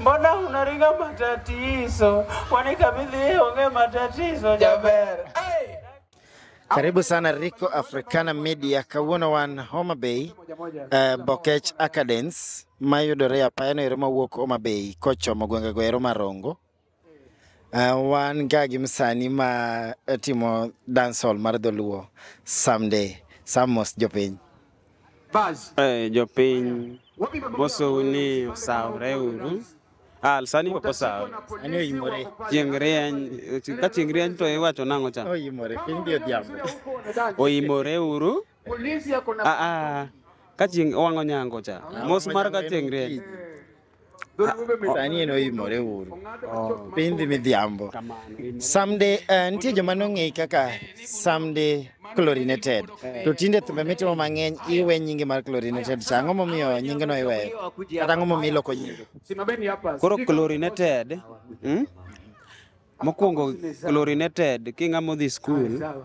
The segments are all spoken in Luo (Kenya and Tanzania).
Mbona unaringa matatizo? Kwani kabidhi yeye ongee matatizo jaber. Karibu sana Rico Africana Media kawuono wan Homa Bay eh, Bokech Acadens mayudore apayano ero mawuok Homa Bay kochomo gwengego ero marongo Uh, wan ga gi msani ma eh, timo dancehall mar dholuo someday samos jopiny eh, jopiny mosou ni osawre uru Ah, sani ok osawo. Ani oyimore. Chieng' rieny, ka chieng' rieny to iwacho nang'o cha? Oyimore, piny bi odhiambo. Oyimore uru. Polisi yako na Ah, ah. Kachieng' owang'o nyango cha. Mos mar kachieng' rieny. sani en oimore uru Oh, piny dhi midhiambo kamano. In- samde eh, nitie joma nong'eyi kaka samde chlorinated to tinde thumbe mitimo mang'eny iwe nyinge mar chlorinated cha ang'o momiyo nyingeno iweyo kata ang'o momiyo iloko nyinge simameni hapa. Koro Sijui kama- chlorinated. Hmm? Mokwongo chlorinated king'ama odhi skul Sawa.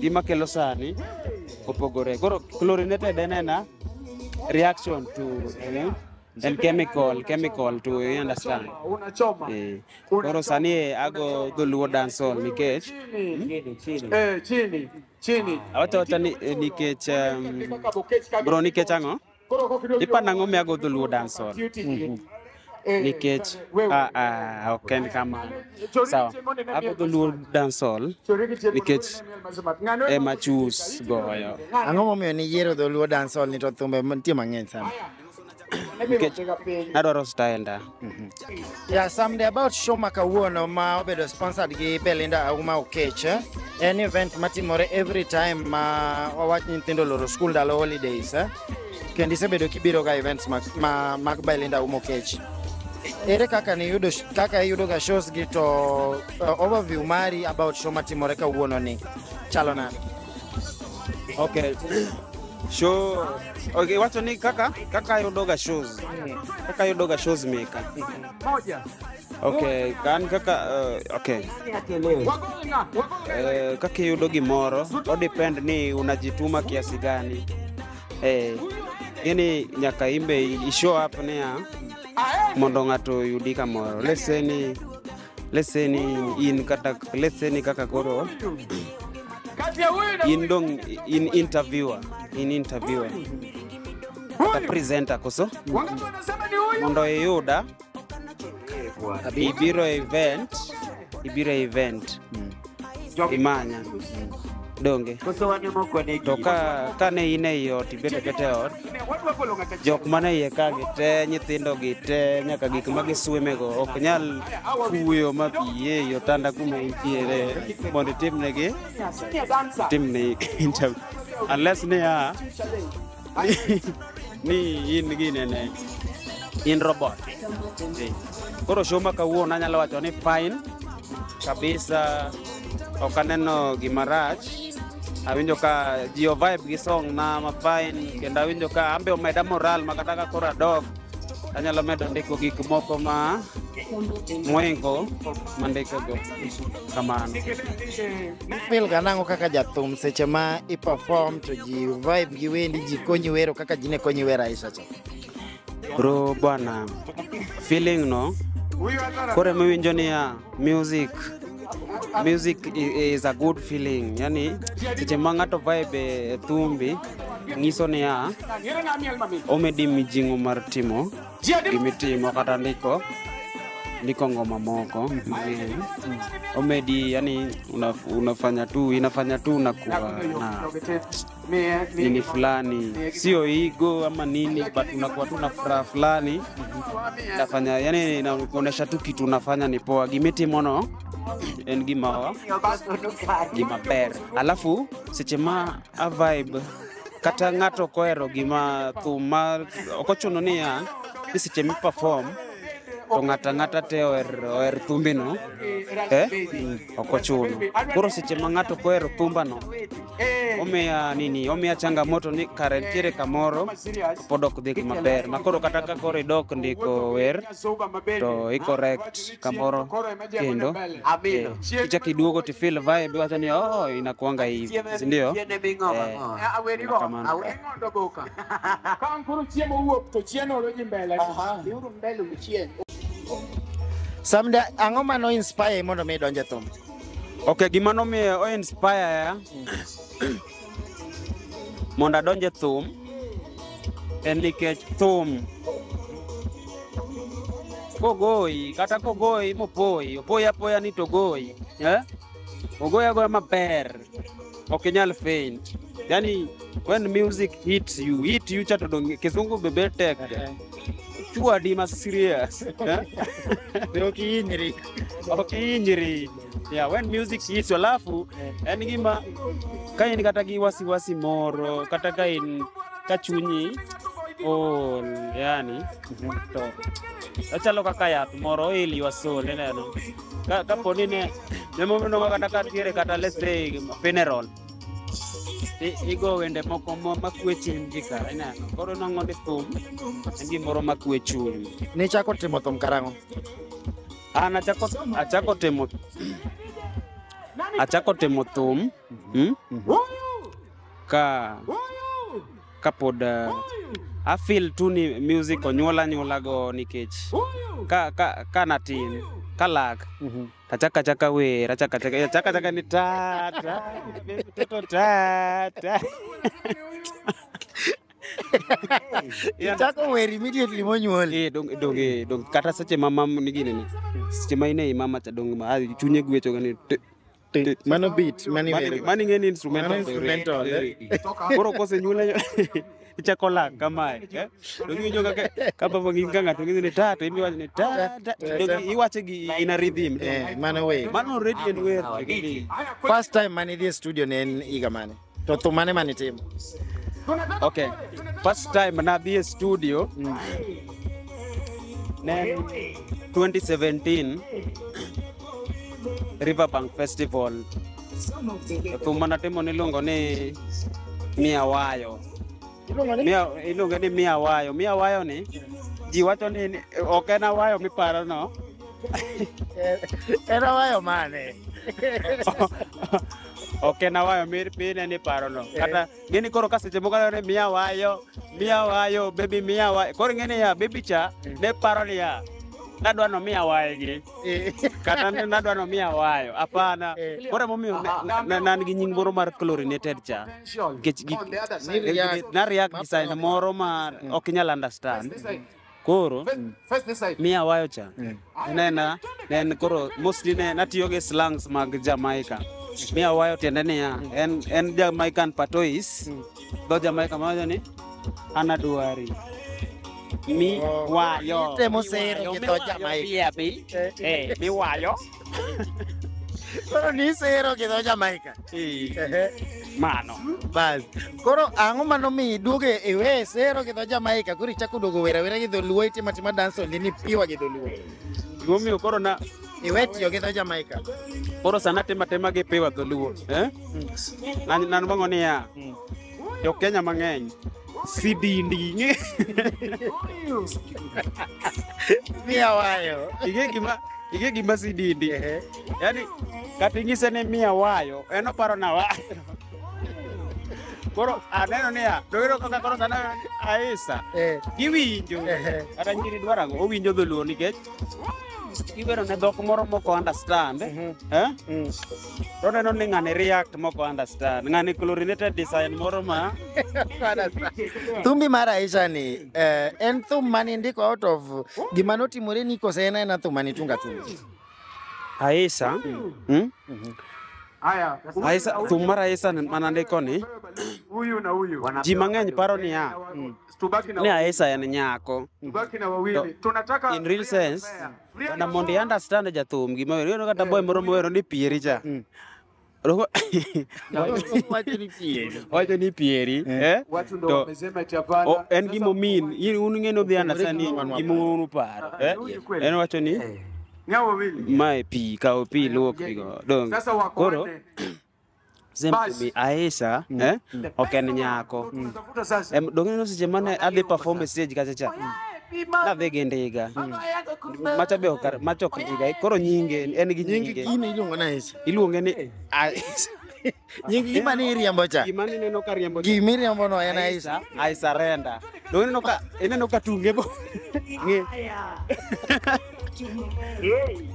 gima kelo sani opogore. Koro chlorinated en ena reaction to eh, en chemical chemical to you understand. Eh, Koro sani ago dholuo dancehall nikech eh, awachawachani eh, nikech um, bro nikech ang'o Ipa nang'o miago dholuo dancehall? Mhm. Nikech ah, ah, ok en kamano. Sawa, ago dholuo dancehall nikech ema chus goyo. Ang'o momiyo niyiero dholuo dancehall ni to thumbe nitie mang'eny sana? Nikech nadwaro style nda. Mhm. Yeah, some day about show ma kawuono ma obedo sponsored gi Belinda Auma Okech. eh? En event matimore every time ma wawach ni nyithindo loro school ndalo holidays. eh? Kendo isebedo kibiro ga events mag, ma, mag Belinda Auma Okech. Ere kaka ni yudo kaka iyudo ga shows gi to uh, overview mari about show matimore kawuono ni chalo nade? Okay. Show Okay, wacho ni kaka kaka ayudoga shows. Kaka ayudoga shows meka. Okay, kan kaka uh, okay. Eh, kaka iyudo gimoro o depend ni unajituma kiasi gani. Eh, yani nyaka imbe i show up niya mondo ng'ato oyudi kamoro. Let's say ni let's say ni in kata let's say ni kaka koro in dong in interviewer in interviewer kata presenter koso mondo iyuda ibiro e event ibiro e event Jok- imanya donge Koso wan ema ok wanegi. to ka ka ne in ei ot ibet abeta e ot Ne, wadwa golo ng'at achiel. jok mane iye ka gi te nyithindo gi te nyaka gik ma giswimego ok nyal kuyo ma pi e i otanda kuma intiere mondo itimnegi Senior dancer. timne interview unless niya ni in ginene in robot Eh, koro show ma kawuono anyalo wacho ni fine kabisa ok aneno gima rach awinjo ka ji ovibe gi song na ma fine kendo awinjo ka ambe omeda moral ma kata ka koro adok anyalo medo ndiko gik moko ma moingo mandikogo kamano fil ga nang'o kaka jathum seche ma i perform to ji vibe gi wendi ji konyi wero kaka ji ne konyi wero aisha cha bro bwana feeling no koro emiwinjo niya music Music i- is a good feeling. Yani seche ma ng'ato vibe e thumbi nyiso niya omedi mijing'o mar timo gimitimo kata ndiko ndiko ngoma moko mang'eny omedi yani una, unafanya tu inafanya tu unakuwa na nini fulani, sio ego ama nini, but unakuwa tu na furaha fulani nafanya, yani inaonyesha tu kitu unafanya ni poa. Gimiti mono en gimawa gimaber, alafu seche ma a vibe kata ng'ato kohero gima thum ma ok ochuno niya ni seche mi perform to ng'ata ng'ata te oher, oher thumbino eh? ok ochuno. Koro seche ma ng'ato kohero thumbano, omiya nini, omiya changamoto ni kare nitiere kamoro to pod ok dhi maber. Ma koro kata ka koro idok ndiko wer to i correct kamoro kendo eh, kichak iduogo to feel vibe iwacho ni oh inakuanga hivi, si ndio? Eh, kamano. Ka koro chiemo wuok to chienolo ji mbele. Aha. Biuru mbele uchien. Samde ang'o ma no inspire mondo mi donje thum? Okay, gima nomiyo o inspire ya mondo adonje thum en nikech thum kogoyi kata kogoyi mopoyi opoyi apoya ni togoyi eh? ogoyi agoya maber ok inyal faint yani when music hits you hit you chato donge kizungu bebe tek chua di ma serious eh? Be ok ihinyri. ok ihinyri yeah when music hits you alafu en gima ka in kata gi wasiwasi moro kata ka in ka chunyi ol yani to ochalo kaka yath moro oil your soul ineno ka kapo ni ne ne moro no kata ka tiere kata let's say funeral i- igo wende moko ma- makwe chuny ji kara ineno koro nongo ni thum en gimoro makwe chuny Nichako timo thum karang'o? an achako achako timo achako timo thum Hmm? Ka kapod uh, I feel tu ni music onyuola nyuola go nikech ka ka ka natin ka lak tachaka chaka wer achaka chaka achaka chaka ni ta ta baby toto ta ta Yeah. Chako wer immediately monyuoli. Eh, dong dong eh, dong kata seche ma mam ni gini ni seche ma ine mama cha dong ma ah, chunye gwecho gani te- Ti- Mano beat, mano Mani- iwero. mani ng'eni instrumental Mano instrumental, eh. Eh. koro kosenyuole ichako lak kamae eh? to giwinjo kaka ka baba ng'in ka ng'ato ng'ini ni ta to in iwacho ni ta ta to gi- iwache gi in a rhythm Eh, mano wer. mano already en wer First time mane idhi e studio ne en higa mane? To thum mane mane itimo? Okay. First time nadhi e studio ne en 2017 Riverbank Festival. Thum manatimo niluongo ni Mia Wayo. Iluongo ni Mia iluonge ni Mia Wayo. Mia Wayo ni ji wacho ni ni- ok en awayo miparo no. en awayo mane? Ok en awayo mir pine ni parono. Kata ng'eni koro ka seche moko aneno ni miya awayo, miya awayo, baby miya awayo. Koro ing'eni ya baby cha ne paro ni ya nadwa no miya awayo gi. Kata ni nadwa no miya awayo. Hapana. Koro emomiyo ne- na- na- nan gi nying moro mar chlorinated cha. Nikech gi- gi- na react gi sign moro ma ok inyal understand. Koro mi awayo cha nena nen koro mostly ne natiyo gi slangs mag Jamaica. Mi awayo tiende niya en en Jamaican patois. Dho Jamaica mawacho ni anaduari. Mi wayo. Temo sero gi dho Jamaica. Bi abi. Eh, mi wayo. Koro nisero gi dho Jamaica. Ehe. Mano. Bas. Koro ang'o mano mi iduoge iwe sero gi dho Jamaica koro ichako duogo wera wera gi dholuo itima tima dance only ni piwa gi dholuo. Gimomiyo koro na Iwe tiyo gi dho Jamaica. koro sana tema tema gi piwa dholuo. Eh? Nan nan bango niya. Jo Kenya mang'eny si dinding'e Mia wayo. ing'e gima ing'e gima si dindi Ehe. yani kata ing'ise ni miya wayo en oparo na wayo koro aneno niya doyudo kaka koro sana aisa Eh. giwinjo Ehe. kata nyiri dwarago owinjo dholuo nikech Kiwero ne dhok moro mok understand, eh? Mm. To neno ni ng'ani react mok understand. Ng'ani chlorinated design moro ma Thumbi mar Aisha ni eh, en thum mane ndiko out of gima notimore ni kose en aena thum mane tunga tunga. Aisha. Mm? Aisha thum mar Aisha ni- mana ndiko ni huyu na huyu ji mang'eny paro niya tubaki na ne wawili. aisa en nyako tubaki na wawili To, tunataka in real sense na mondo i understand jathum gima wero ineno kata boy moro mowero ni pieri cha Roho- wacho ni pieri eh? watu ndo To- wamesema eti hapana. O, en Sasa gimo min in un ng'e nodhi understand ni gima un uparo eh? Rudi kweli. en wacho ni ni hao wawili mae pi kawo pi luok pigo dong Sasa wako koro wanne. Basi. aisha eh? ok en nyako Tunatafuta sasa. Em, dong' ineno seche mane adhi perform e stage kacha cha nadhi gi ndiga macha be ok macha ok ndiga koro nyinge en gi nyingi nyinge gini iluongo na Aisha. iluonge ni Aisha. Nying gima ni iriambo cha. gima nineno ka riembo Gima iriambo no en Aisha. I surrender. Dong' ineno ka ineno ka tunge bo ng'e Yei.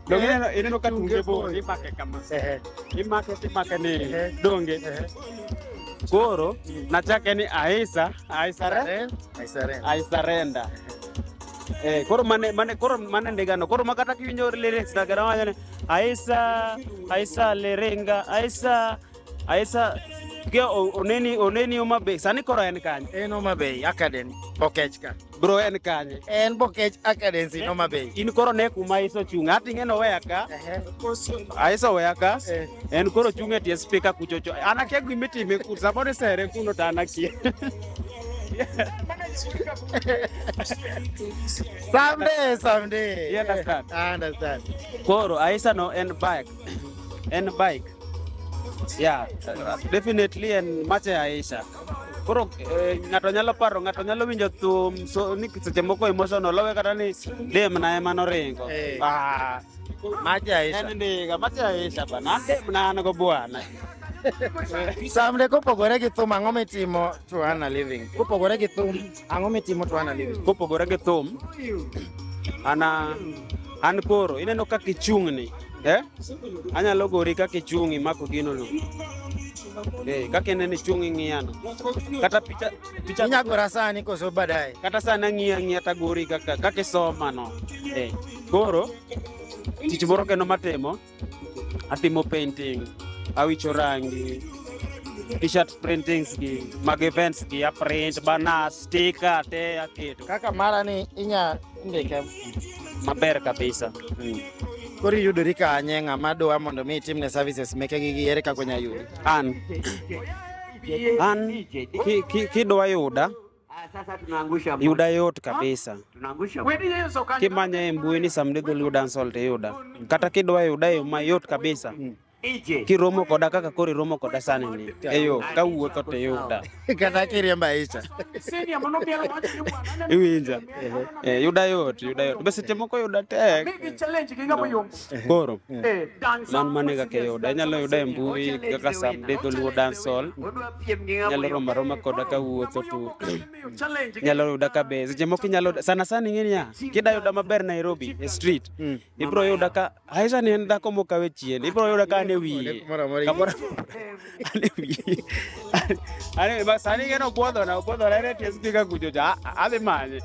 No Eh, ineno ineno ka tunge tunge bor bor. imake kama. Ehe, Imake timake ni Ehe. donge. ehe. Koro nachake ni Aisa, Aisa re, Saren, I surrender. I surrender. Eh, koro mane mane koro mane ndigano. Koro makata kiwinjo lyrics na gara wanyane Aisa, Aisa lerenga, Aisa Aisa ge o- oneni oneni Homa Bay sani koro en kanye En Homa Bay Academy, Bokech ka. bro en kanye En Bokech Academy in Homa Bay. in koro ne kuma iso chung' ati ng'eno weya ka Ehe. aiso weya ka Eh. en koro chung' e tie spika kuchocho an akia gima itime ku samoro isere kuno to an akia Someday, someday. You understand? I understand. koro aisa no en bike en bike yeah definitely en mache aisha koro eh, ng'ato nyalo paro ng'ato nyalo winjo thum so ni seche moko emotional owe kata ni demna ema noringo Eh. Ah, Maji Aisha. en ndiga mache aisha bana demna an go bwana Samde kopogore gi thum ang'o mitimo to earn a living? Kopogore gi thum Ang'o mitimo to ana live? Kopogore gi thum, ana an koro ineno kaka ichung'ni. Eh? Anyalo gori kaka ichung'i mako gino no. Eh, kaka ineno ichung'i ng'iyano. Kata picha picha Inyagora sani koso baadaye. kata sana ng'iya ng'iya tagori kaka kaka isoma no. Eh, koro tich moro kendo matimo atimo painting awicho rangi t-shirt printings gi mag events gi aprint bana sticker te aketo kaka mara ni inya ndike maber kabisa mm. koro iyudori kanye ng'ama dwa mondo mi itimne services meke gi gi ere kaka onya yudi an an ki- ki- kidwa yuda Ah, sasa tunaangusha mbuzi. yuda yot kabisa Tunaangusha mbuzi. Wedi yeso kanyo. kimanya e mbui ni samdidhul yuda salt yuda kata kidwa yuda yo mayot kabisa Ije. kiromo koda kaka koro iromo koda sani ni eyo kawuotho to yuda Kata kiriemba Aisha. Senior mono biero wacho ni bwana. iwinja Eh, yuda yot yuda yot be seche moko yuda tek Migi challenge gi ng'ama yombo. koro man mane kaka yuda inyalo yuda e mbui kaka sam de dholuo dancehall nyalo romo aroma koda ka wuotho to nyalo yuda ka be seche moko inyalo yuda- sana sana ing'e niya kida yuda maber nairobi e street ibro yuda ka aisha ni en dhako mokawe chien ibro yuda ka an e wiye Moro amora Kamoro- Ani bas ani geno puodho na puodho na rete stika kujoja adhi manye.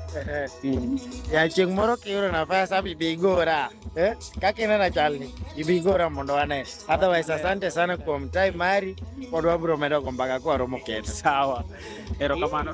ya chieng' moro kiyudo nafas abi bi igora eh? kaka inena chalni ibi igora mondo wane otherwise asante sana kuom time mari pod wabiro medo go mbaka kwa romo kendo Sawa. Erokamano.